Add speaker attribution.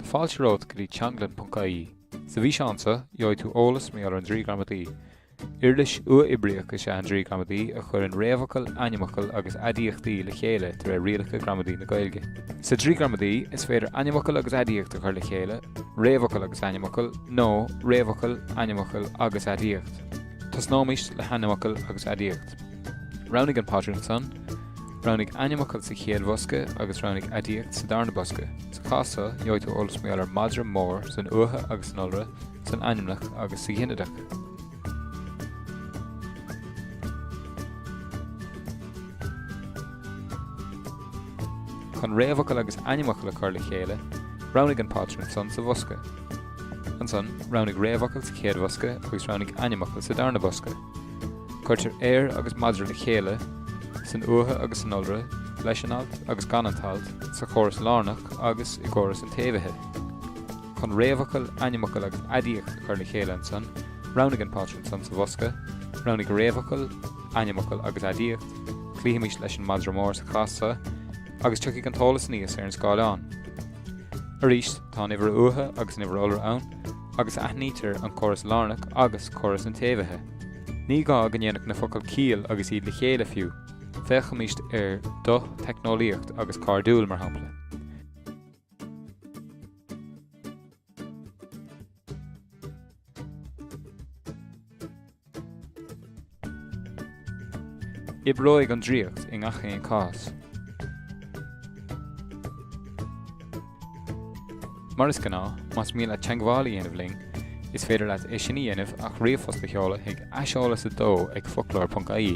Speaker 1: Fáilte romhat go dtí teanglann.ie! Sa bhfíseán so, gheobhaidh tú eolas mar gheall ar an Draoi Gramadaí. Uirlis uathoibríoch is ea an Draoi Gramadaí a chuireann réamhfhocail, ainmfhocail agus aidiachtaí le chéile de réir rialacha gramadaí na Gaeilge. Sa Draoi Gramadaí, is féidir ainmfhocal agus aidiacht a chur le chéile, réamhfhocal agus ainmfhocal, nó réamhfhocal, ainmfhocal agus aidiacht. Tosnóimist le hainmfhocal agus aidiacht. Roghnaigh an pátrún san. Roghnaigh ainmfhocal sa chéad bhosca agus roghnaigh aidiacht sa darna bosca. Sa chás so, gheobhaidh tú eolas mar gheall ar 'madra mór' san uatha agus san iolra, san ainmneach agus sa ghinideach. Chun réamhfhocal agus ainmfhocal a chur le chéile, roghnaigh an pátrún san sa bhosca. Ansan, roghnaigh réamhfhocal sa chéad bhosca agus roghnaigh ainmfhocal sa darna bosca. Cuirtear 'ar' agus madra le chéile san uatha agus san iolra, leis an alt agus gan an t-alt, sa chóras lárnach agus i gcóras an tséimhithe. Chun réamhfhocal, ainmfhocal agus aidiacht a chur le chéile ansan, roghnaigh an pátrún san sa bhosca, roghnaigh réamhfhocal, ainmfhocal agus aidiacht, cloífimis leis an madra mór sa chás so, agus tiocfaidh an t-eolas aníos ar an scáileán. Arís. Tá an uimhir uatha agus an uimhir iolra ann, agus aithnítear an córas lárnach agus córas an tséimhithe. Ní gá go ndéanfadh na focail ciall agus iad le chéile fiú, féachaimis ar 'do', 'teicneolaíocht', agus 'cairdiúil', mar shampla. Oibreoidh an draíocht i ngach aon chás. Mar is gnáth, más mian leat teagmháil a dhéanamh linn, is féidir leat é sin a dhéanamh ach ríomhphost a sheoladh chuig aiseolas 2 ag foclóir.ie.